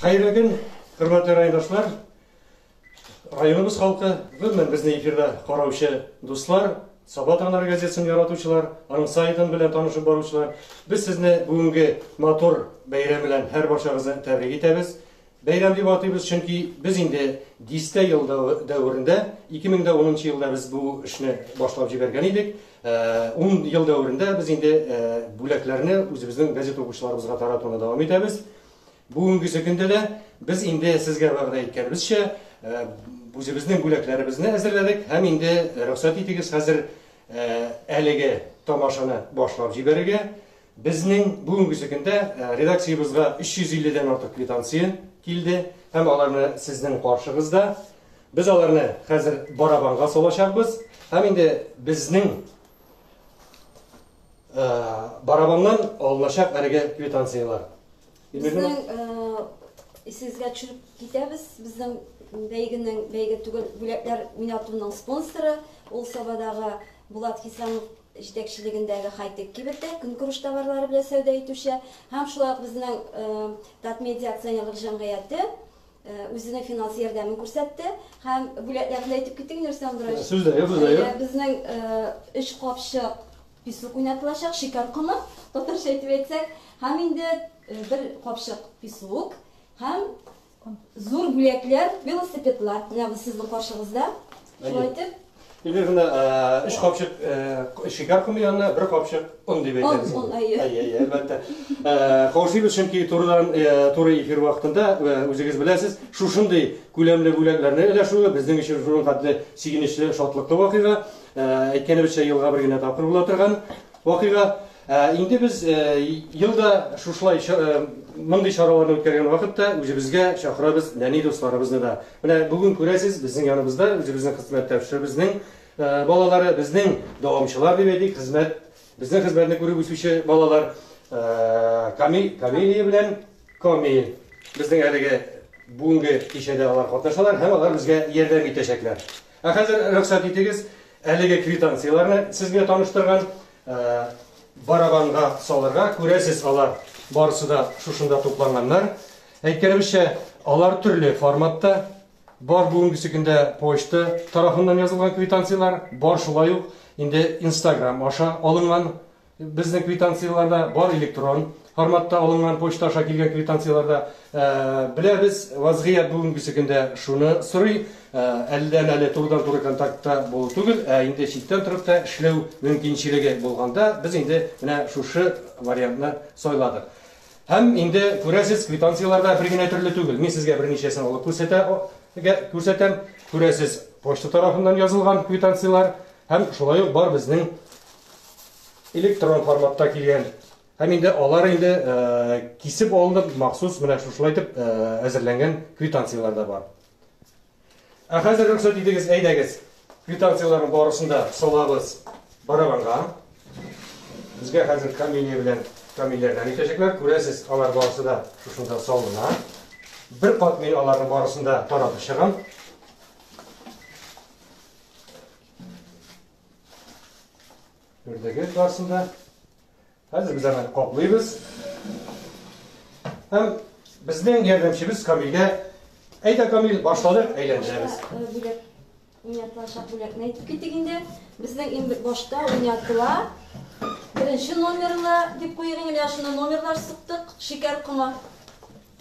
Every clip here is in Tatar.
Хәерле көн, хөрмәтле райондашлар, районыбыз халкы, гомумән безне эфирда караучы дуслар, Саба таңнары газетасын яратучылар, аның сайтын белән танышып баручылар. Без сезне бүгенге матур бәйрәм белән һәр барчагызны тәбрик итәбез. Бәйрәм дип атыйбыз, чөнки без инде дистә ел дәверендә, 2010 елда без бу эшне башлап җибәргән идек. Ун ел дәверендә без инде бүләкләрне үзебезнең газета укучыларыбызга таратуны дәвам итәбез. Бүгенгесе көндә дә без инде сезгә вәгъдә иткәнебезчә, үзебезнең бүләкләребезне әзерләдек һәм инде рөхсәт итегез хәзер әлеге тамашаны башлап җибәрергә. Безнең бүгенгесе көндә редакциябезгә 350 дән артык квитанция килде һәм аларны сезнең каршыгызда. Без аларны хәзер барабанга салачакбыз һәм инде безнең барабаннан алыначак әлеге квитанцияләр. Безнең исегезгә төшереп китәбез, безнең бәйгенең бәйге түгел бүләкләр уйнатуның спонсоры ул Сабадагы Булат Хисамов җитәкчелегендәге хай-тек кибеттә көнкүреш товарлары белән сәүдә итүче һәм шулай ук безнең Татмедиа акционерлык җәмгыяте үзенең финанс ярдәмен күрсәтте һәм бүләкләрне дә әйтеп китик, Нурислам Андрович. Сүз дә юк, сүз дә юк. Әйдә, безнең өч капчык песок уйнатылачак, шикәр комы, татарча итеп әйтсәк, һәм инде бер капчык песок һәм Зур бүләкләр, велосипедлар. Менә бу сезнең каршыгызда. Шулай итеп. Или гына өч капчык шикәр комы янына бер капчык он дип әйтәбез. Он, әйе. Әйе, әйе, әлбәттә. Каушыйбыз, чөнки турыдан туры эфир вакытында үзегез беләсез, шушындый күләмле бүләкләрне өләшүе безнең өчен шуның хәтле сигенечле, шатлыклы вакыйга. Әйткәнебезчә, елга бер генә тапкыр була торган вакыйга. Ә инде без ел да шушылай мондый чараларны үткәргән вакытта үзебезгә чакырабыз нәни дусларыбызны да. Менә бүген күрәсез, безнең яныбызда үзебезнең хезмәттәшебезнең балалары, безнең дәвамчылар дип әйтик, хезмәт, безнең хезмәтне күреп үсүче балалар Камиль, Камилия белән Камиль. Безнең әлеге бүгенге кичәдә алар катнашалар һәм алар безгә ярдәм итәчәкләр. Ә хәзер рөхсәт итегез, әлеге квитанцияләрне сезгә таныштырган Барабанга салырга, күрәсез, алар барысы да шушында тупланганнар. Әйткәнебезчә, алар төрле форматта, бар бүгенге секундә почта тарафыннан язылган квитанцияләр, бар шулай ук инде Инстаграм аша алынган безнең квитанцияләрдә бар электрон Форматта алынган почта аша килгән квитанцияләрдә беләбез, вазгыять бүгенгесе көндә шуны сорый, әледән-әле турыдан-туры контактта булу түгел, ә инде читтән торып та эшләү мөмкинчелеге булганда, без инде менә шушы вариантны сайладык. Һәм инде күрәсез, квитанцияләр дә бер генә төрле түгел. Мин сезгә берничәсен алып күрсәтә, гә, күрсәтәм. Күрәсез, почта тарафыннан язылган квитанцияләр һәм шулай ук бар безнең электрон форматта килгән Һәм инде алар инде кисеп алынып, махсус менә шушылай итеп әзерләнгән квитанцияләр дә бар. Ә хәзер рөхсәт итегез, әйдәгез, квитанцияләрнең барысын да салабыз барабанга. Безгә хәзер камилия белән камилләрдән итәчәкләр. Күрәсез, алар барысы да шушында салына. Бер кат мин аларның барысын да таратып чыгам. Күрдегез барысын да. Хәзер без аны каплыйбыз. Һәм безнең ярдәмчебез Камилгә әйдә Камил башладык әйләндерәбез. Уйнатылачак бүләкне әйтеп китик инде. Безнең иң башта уйнатыла. Беренче номерлы дип куйыйк инде, менә шуны номерлар сыктык. Шикәр комы.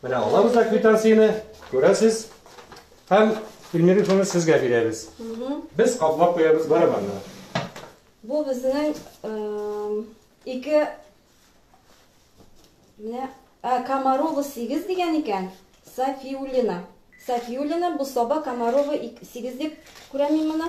Менә алабыз да квитанцияне, күрәсез. Һәм Эльмира Ифановна сезгә бирәбез. Без каплап куябыз барабанны. Бу безнең ике менә Комарова 8 дигән икән. Сафиуллина. Сафиуллина бу саба Комарова 8 дип күрәм мин моны.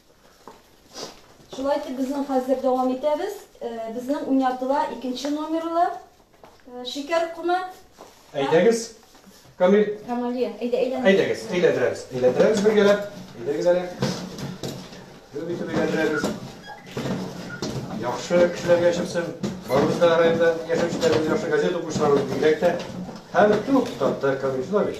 Шулай итеп безнең хәзер дәвам итәбез. Э, безнең уйнатыла икенче номерлы э, шикәр комы. Әйдәгез. Камил. Камали, әйдә әйләндер. Әйдәгез, әйләндерәбез. Әйләндерәбез бергәләп. Әйдәгез әле. Гөб итеп әйләндерәбез. Яхшы кешеләргә чыксын. Барыбыз да районда яшәүчеләребез, яхшы газет укучыларыбыз бигрәк тә. Һәм туктатты Камил Флавич.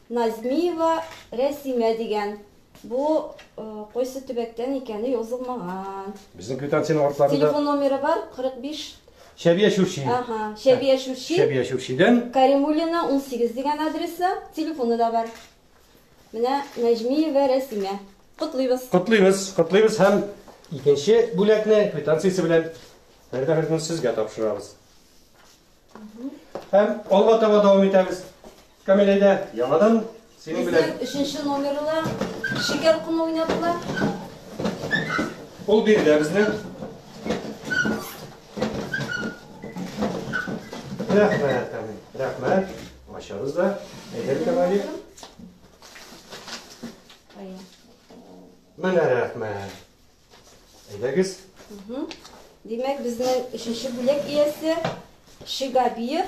Назмиева Рәсимә дигән. Бу кайсы төбәктән икәне язылмаган. Безнең квитанциянең артларында. Телефон номеры бар, 45. Шәбия Чүрчи. Ага, Шәбия Чүрчи. Шәбия Чүрчидән. Каримуллина, 18 дигән адресы, телефоны да бар. Менә Нәҗмиева Рәсимә. Котлыйбыз. Котлыйбыз, котлыйбыз һәм икенче бүләкне квитанциясе белән Фәридә Фәридовна сезгә тапшырабыз. Һәм алга таба дәвам итәбез. Камилә дә яңадан синең белән. Безнең өченче номеры да шикәр комы уйнадылар. Ул биредә безнең. Рәхмәт, Камил. Рәхмәт. Ачабыз да. Әйдәр Камали. Менә рәхмәт. Әйдәгез. Димәк, безнең өченче бүләк иясе Шигабиев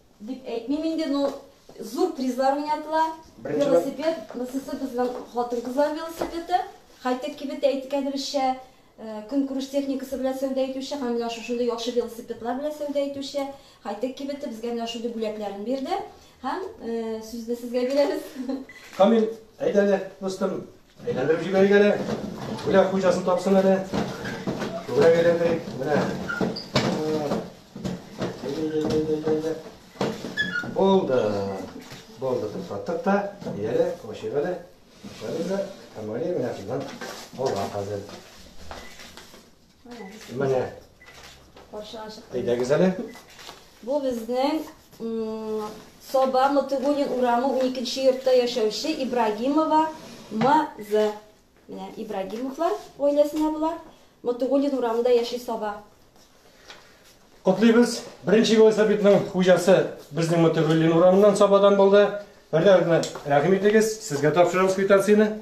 Дип әйтмим инде, но зур призлар уйнатыла. Велосипед, мсс безнең хатын-кызлар велосипеды. Хайтек кибет әйткәнебезчә, э, көнкүреш техникасы белән сәүдә итүче һәм менә шушындый яхшы велосипедлар белән сәүдә итүче Хайтек кибете безгә менә шундый бүләкләрен бирде. Һәм э, сүзне сезгә бирәбез. Камил, әйдә әле, дустым, Әйләндереп җибәрик әле. Бүләк хуҗасын тапсын әле. Күбрәк әйләндерик. Менә. Булды. Булды. Туктаттык та. Ияле, кошик әле. Шәбез дә. Камали менә шуннан алга хәзер. Менә. Каршыга чыкты. Әйдәгез әле. Бу безнең Соба Мотыгунин урамы 12 йортта яшәүче Ибрагимова МЗ. Менә Ибрагимовлар гаиләсенә була. Мотыгунин урамында яши Соба. Котлыйбыз. Беренче велосипедның хуҗасы безнең Мотыгунин урамыннан Собадан булды. Бер-берегезне рәхим итегез. Сезгә тапшырам квитанцияне.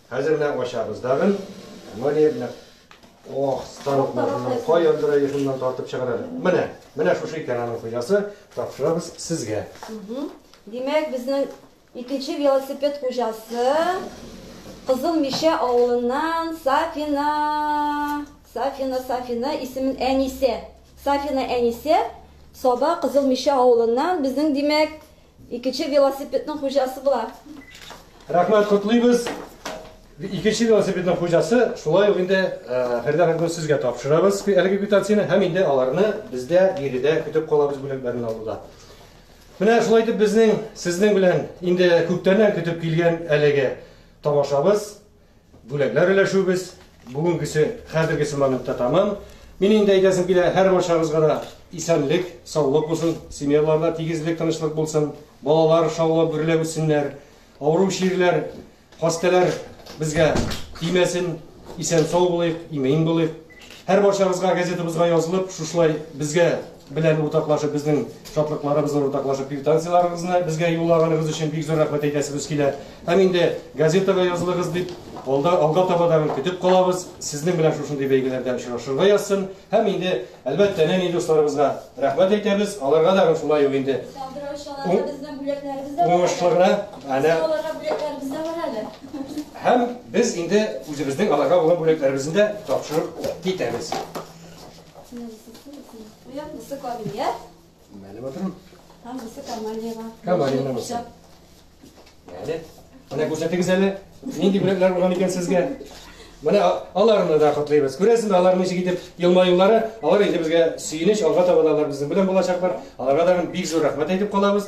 Хәзер менә ачабыз тагын. Бу ни менә? Ох, станок машина. Каян дөрә йышыннан тартып чыгар әле. Менә, менә шушы икән аның хуҗасы. Тапшырабыз сезгә. Димәк, безнең икенче велосипед хуҗасы Кызыл Мишә авылыннан Сафина. Сафина, Сафина исемен Әнисә. Сафина Әнисә Саба Кызыл Мишә авылыннан безнең, димәк, Икенче велосипедның хуҗасы була. Рәхмәт, котлыйбыз. Икенче велосипедның хуҗасы, шулай ук инде Фәридә ханымны сезгә тапшырабыз әлеге квитанцияне һәм инде аларны бездә биредә көтеп калабыз бүләкләрен алуда. Менә шулай итеп безнең сезнең белән инде күптәннән көтеп килгән әлеге тамашабыз Бүләкләр өләшүебез бүгенгесе, хәзергесе моментта тәмам. Мин инде әйтәсем килә, һәр барчагызга да исәнлек, саулык булсын, семьяларда тигезлек, тынычлык булсын, балалар шаулап гөрләп үссеннәр, авыру чирләр, хастәләр безгә тимәсен, исән-сау булыйк, имин булыйк. Һәр барчагызга газетабызга язылып, шушылай безгә белән уртаклашып, безнең шатлыкларыбызны уртаклашып, квитанцияләрегезне безгә юллаганыгыз өчен бик зур рәхмәт әйтәсебез килә. Һәм инде газетага язылыгыз дип, алда, алга таба да көтеп калабыз. Сезнең белән шушындый бәйгеләрдә очрашырга язсын. Һәм инде, әлбәттә, нәни дусларыбызга рәхмәт әйтәбез. Аларга да шулай ук инде Сандра очаларда безнең бүләкләребез дә бар әле. Уңышлы гына. Әнә. Аларга бүләкләребез дә бар әле. Һәм без инде үзебезнең аларга булган бүләкләребезне дә тапшырып китәбез. Уян, бусы камилия. Мәле батырым. Һәм бусы камалиева. Камалиева бусы. Мәле. Менә күрсәтегез әле, нинди бүләкләр булган икән сезгә. Менә аларны да котлыйбыз. Күрәсезме, алар ничек итеп елмаюлары, алар инде безгә сөенеч, алга таба да алар безнең белән булачаклар. Аларга да бик зур рәхмәт әйтеп калабыз.